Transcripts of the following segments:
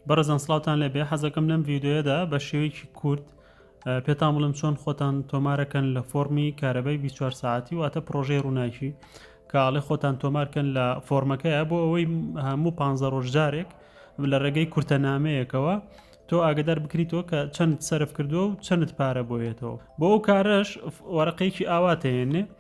بەڕێزان سڵاوتان لێبێ حەزەکەم لەم ڤیدۆیەدا بە شێوەیەکی کورت پێتان بڵم چۆن خۆتان تۆمارەکەن لە فۆرمی کارەبای 24 ساعتی واتە پرۆژەی ڕووناکی کاڵێ خۆتان تۆمارکەن لە فۆرمەکەیە بۆ ئەوەی هەموو پ ڕۆژجارێک لە ڕێگەی کورتە نامەیەکەوە تۆ ئاگدار بکریتەوە کە چەند سرف کردووە و چەند پارە بۆیێتەوە بۆ ئەو کارەش وەرەقەیەکی ئاواتێنێ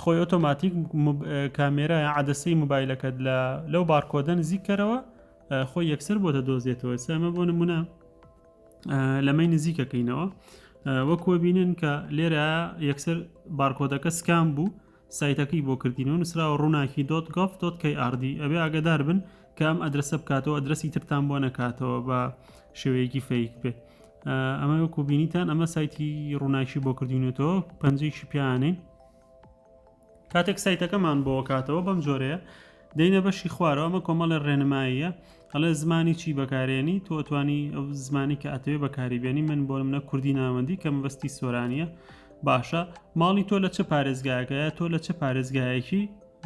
خۆی ئۆتۆماتیک کامێرایە عدەسەی موبایلەکەت لە لەو بارکۆدە نزیککەرەوە خۆی یەکسەر بۆ دەدۆزێتەوە سامە بۆ نمونە لەمەی نزیکەکەینەوە وەکو بینن کە لێرە یەکسەر بارکۆدەکە سکان بوو سایتەکەی بۆ کردین و نووسراوە ڕووناکی دۆت گۆف دۆت کەی ئاردی ئەبێ ئاگدار بن کە ئەم ئەدرسە بکاتەوە ئەدرسی ترتان بۆ نەکاتەوە بە شێوەیەکی فەیک بێ ئەمە وەکو بینیتان ئەمە سایتی ڕووناکی بۆ کردوینێتەوە پەنجێکی پیانین کاتێک سایتەکەمان بۆ کاتەوە بەم جۆرەیە دەینە بەشی خوارەوە ئەمە کۆمەڵێ ڕێنماییە ئەڵێ زمانی چی بەکارێنی تۆتوانی ئەو زمانی کە ئەتەوێ بەکاری بێنی من بۆ منە کوردی ناوەندی کە مەبەستی سۆرانیە باشە ماڵی تۆ لە چه پارێزگاکەیە تۆ لە چه پارێزگایەکی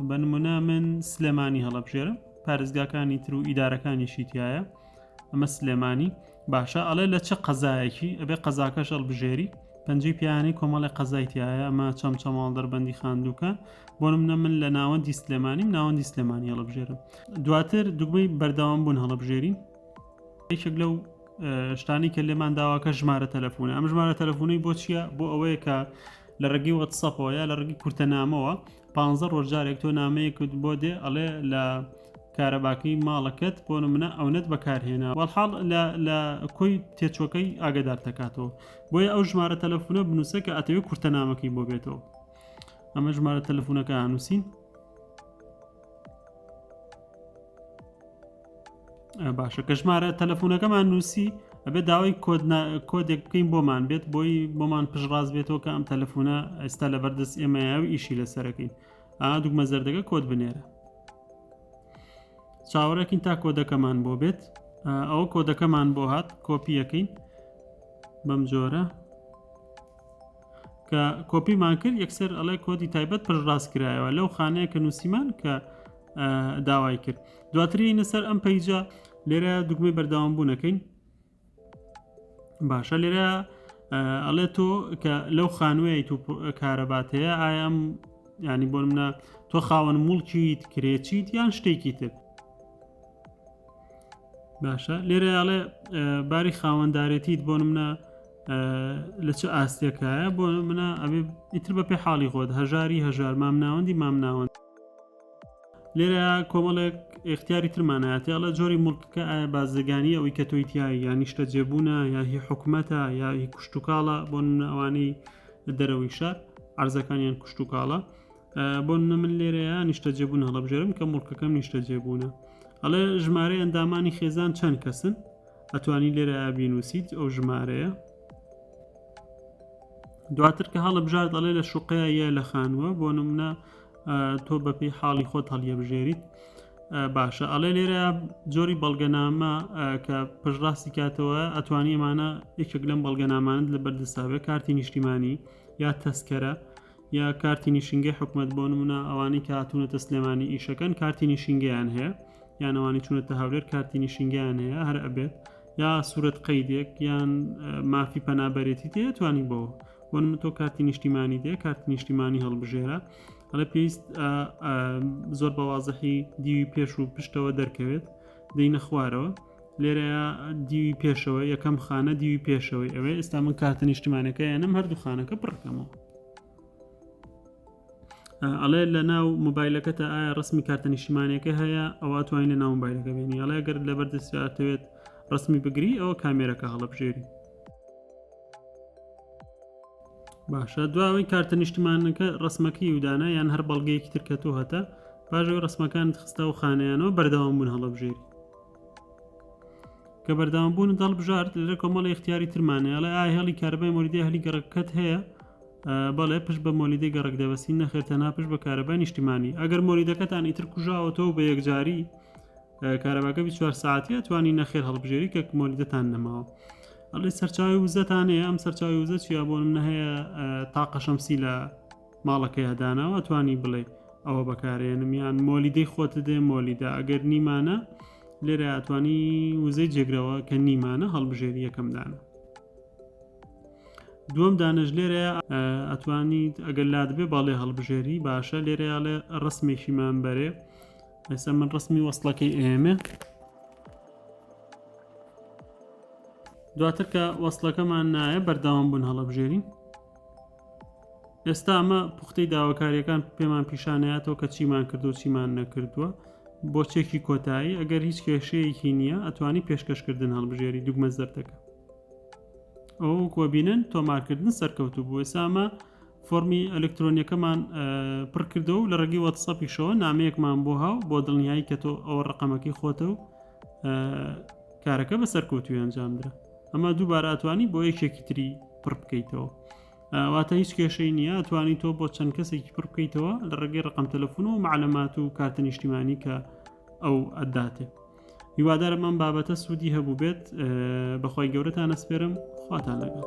بە نمونە من سلێمانی هەڵەبژێرم پارێزگاکانی تر و ئیدارەکانیشی تایە ئەمە سلێمانی باشە ئەڵێ لە چه قەزایەکی ئەبێ قەزاکەش هەڵبژێری پەنجەی پیانی کۆمەڵی قەزایتیایە ئەمە چەم چەماڵ دەربەندی خاندووکە بۆ منە من لە ناوەندی سلێمانیم ناوەندی سلێمانی هەڵبژێرم دواتر دوگمەی بەردەوام بوون هەڵبژێری یەکێک لەو شتانی کە لێمان داواکە ژمارە تەلەفۆنە ئەم ژمارە تەلەفۆنی بۆ چییە بۆ ئەوەیە کە لە ڕێگەی وەتسەپەوە یا لە ڕێگەی کورتەنامەوە پانزە ڕۆژ جارێک تۆ نامەیەکت بۆ دێ ئەڵێ لە کارەباکەی ماڵەکەت بۆ منە ئەونەت بەکارهێنا وەڵحاڵ لە کۆی تێچۆکەی ئاگدار دەکاتەوە بۆیە ئەو ژمارە تەلەفونە بنووسە کە ئەتەوێت کورتە نامەکەی بۆ بێتەوە ئەمە ژمارە تەلەفونەکە هەنووسین باشە کە ژمارە تەلەفۆنەکەمان نووسی ئەبێت داوای کۆدێک بکەین بۆمان بێت بۆی بۆمان پشڕاز بێتەوە کە ئەم تەلەفۆنە ئێستا لە بەردەست ئێمەیە و ئیشی لەسەرەکەین ئا دوگمە زەردەکە کۆت بنێرە چاوەڕێکین تا کۆدەکەمان بۆ بێت ئەوە کۆدەکەمان بۆ هات کۆپیەکەین بەم جۆرە کە کۆپیمان کرد یەکسەر ئەڵێ کۆدی تایبەت پشڕاست کرایەوە لەو خانەیە کە نووسیمان کە داوای کرد دواتری نەسەر ئەم پەیجە لێرە دوگمەی بەرداوام بوو نەکەین باشە لێرە ئەڵێ تۆ کە لەو خانوویت و کارەبات هەیە ئایم ینی بۆ منە تۆ خاوەن مڵکیت کرێچیت یان شتێکی تر باشە لێرە ئاڵێ باری خاوەندارێتیت بۆ منە لە چ ئاستێکایە بۆ منە ئەبێ ئیتر بە پێ حاڵی خۆت هەژاری هەژار مام ناوەندی مام ناوەند لێرە کۆمەڵێک اختیاری ترمانایەتیڵە جۆری مڵکەکە ئایا بازرگانی ئەوی کە تۆی تایی یا نیشتە جێبوونە یا هی حکومەتە یا هی کوشتتوکاڵە بۆ ئەوانەی دەرەوەی شار ئارزەکانیان کوشتتوکاڵە بۆ نمونە من لێرەیە نیشتەجێبوون هەڵبژێرم کە مڵکەکەم نیشتەجێبوونە ئەڵێ ژمارە ئەندامانی خێزان چەند کەسن ئەتوانی لێرە بینوسیت ئەو ژمارەیە دواتر کە هەڵە بژار دەڵێ لە شوقەیە یە لە خانووە بۆ نمونە تۆ بەپی حاڵی خۆت هەڵیە بژێریت باشە ئەڵێ لێرە جۆری بەڵگەنامە کە پشڕاستی کاتەوە ئەتوانی ئەمانە یەکێک لەم بەڵگەنامانت لە بەردەساوێ کارتی نیشتیمانی یا تەسکەرە یا کارتی نیشینگەی حکومەت بۆ نمونە ئەوانەی کە هاتوونەتە سلێمانی ئیشەکەن کارتی نیشینگەیان هەیە یانەوانی چونەتە هەولێر کارتی نیشینگەیان هەیە هەر ئەبێت یا سوورەت قەیدێک یان مافی پەنابەرێتی تێتوانی بۆ بۆ من تۆ کارتی نیشتیمانی دێ کارتی نیشتیمانی هەڵبژێرە ئەڵە پێویست زۆر بەوازەحی دیوی پێش و پشتەوە دەرکەوێت دەینە خوارەوە لێرەیا دیوی پێشەوە یەکەم خانە دیوی پێشەوەی ئەوێ ئێستا من کارتە نیشتمانەکە یانم هەردوو خانەکە پڕکەمەوە ئەڵێ لە ناو مۆبایلەکە تا ئایا ڕسمی کارتە نیشتمانەکە هەیە ئەوە توانین لە ناو مۆبایلەکە بینی ئەڵێ گەر لە بەردەستاتەوێت ڕسمی بگری ئەوە کامێرەکە هەڵبژێری باشە دواوەی کارتە نیشتمانەکە ڕسمەکە یودانە یان هەر بەڵگەیەکی ترکە تۆ هەتا پاژەوەی ڕسمەکان خستا و خانیانەوە بەردەوام بوون هەڵبژێری کە بەردەوام بوون دەڵ بژارد لەرە کۆمەڵی اختیاری ترمانە ئەڵێ ئایا هێڵی کارەبای مۆریدی هەلی گەڕەکەت هەیە بەڵێ پشت بە مۆلیدەی گەڕک دەبەستی نەخێر تەنها پشت بە کارەبای نیشتیمانی ئەگەر مۆریدەکەتان ئیتر کوژاوەتەوە بە یەکجاری کارەباکە 24 ساعتە توانی نەخێر هەڵبژێری کە مۆلیدەتان نەماوە ئەڵێ سەرچاوی وزەتانەیە ئەم سەرچاوی وزە چیا بۆ منە هەیە تاقەشەمسی لە ماڵەکەیا داناوە ئەتوانی بڵێ ئەوە بەکارێنم یان مۆلیدەی خۆتە دێ مۆلیدا ئەگەر نیمانە لێرە ئەتوانی وزەی جێگرەوە کە نیمانە هەڵبژێری یەکەم دانە دووەم دانش لێرە ئەتوانیت ئەگەر لا دەبێ باڵێ هەڵبژێری باشە لێرەیاڵێ ڕسمێکیمان بەرێ ئێستا من ڕسمی وەصلەکەی ئێمە دواتر کە وەصلەکەمان نایە بەرداوام بوون هەڵبژێری ئێستا ئەمە پوختەی داواکاریەکان پێمان پیشانەیاتەوە کە چیمان کردو چیمان نەکردووە بۆ چێکی کۆتایی ئەگەر هیچ کێشەیەکی نییە ئەتوانی پێشکەشکردن هەڵبژێری دوگمە زەردەکە ئەو کۆبینن تۆمارکردن سەرکەوتو بوو ئێسامە فۆمی ئەلکترۆنیەکەمان پڕکردەوە لە ڕێگەی وەتسەپیشەوە نامەیەکمان بۆ هاو بۆ دڵنیایی کە تۆ ئەوە ڕقەمەکەی خۆتە و کارەکە بە سەرکەوتوی ئەنجامدرا ئەمە دووبارە ئەتوانی بۆ یەکێکی تری پڕ بکەیتەوە واتە هیچ کێشەی نییە توانی تۆ بۆ چەند کەسێکی پڕ بکەیتەوە لە ڕێگەی ڕقم تەلەفۆن و معلەمات و کارتە نیشتیمانی کە ئەو ئەداتێ هیوادارم ئەم بابەتە سوودی هەبوو بێت بەخوای گەورەتان ئەسپێرم خواتان لەگەڵ